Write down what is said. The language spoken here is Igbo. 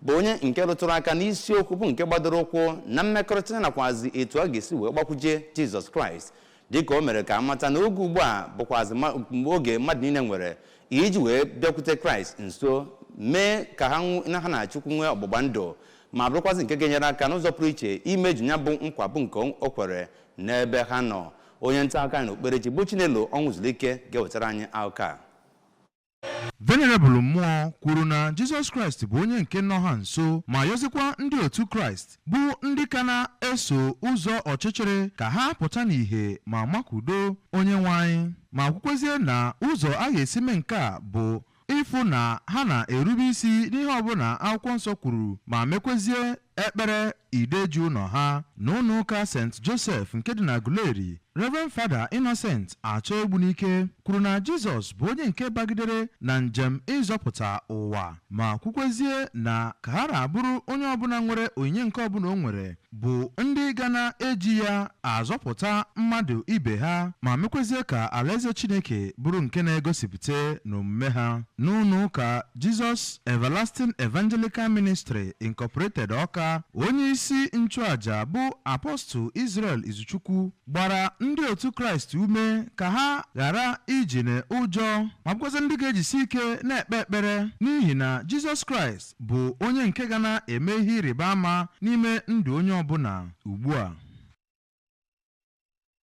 bụ onye nke rụtụrụ aka n'isiokwu bụ nke gbadoro ụkwụ na mmekọrịta nakwazi etu a ga-esi wee gbakwuje jizọs kraịst dịka o mere ka a mata na oge ugbu a bụkwazi ma- mgbe oge mmadụ niile nwere iji wee bịakwute kraịst nso mee ka ha nw- na ha na chukwu nwee ọgbụgba ndụ ma bụrụkwazị nke ga-enyere aka n'ụzọ pụrụ iche imeju ya bụ nkwa bụ nke o kwere n'ebe ha nọ onye nta akụkọ anyị na okperechi bụ chinelo ọnwụzulike ga-ewetara anyị akụkọ a Venerebụl Mmụọ kwuru na Jizọs Kraịst bụ onye nke nọ ha nso ma yọzikwa ndị otu Kraịst bụ ndị ka na-eso ụzọ ọchịchịrị ka ha pụta n'ìhè ma makwudo onye nwe anyị ma kwukwezie na ụzọ a ga-esi mee nke a bụ ịfụ na ha na-erube isi n'ihe ọbụla akwụkwọ nsọ kwuru ma mekwezie Ekpere ide ji ụlọ ha n'ụlọ ụka St. Joseph nke dị n'Aguleri, Rev. Fada Innocent Achọ Egbunike kwuru na Jizọs bụ onye nke bagidere na njem ịzọpụta ụwa ma kwukwezie na ka ha na-abụrụ onye ọbụla nwere onyinye nke ọbụla o nwere bụ ndị ga na-eji ya azọpụta mmadụ ibe ha ma mekwezie ka Alaeze Chineke bụrụ nke na-egosipụta n'omume ha n'ụlọ ụka Jesus Everlasting Evangelical Ministry Incorporated Ọka, onye isi nchụaja bụ Apostle Israel Izuchukwu gbara ndị otu Kraịst ume ka ha ghara ịdị n'ụjọ ma bụkwazị ndị ga-ejisi ike na-ekpe ekpere n'ihi na Jizọs Kraịst bụ onye nke ga na-eme ihe ịrịba ama n'ime ndụ onye ọbụla ugbu a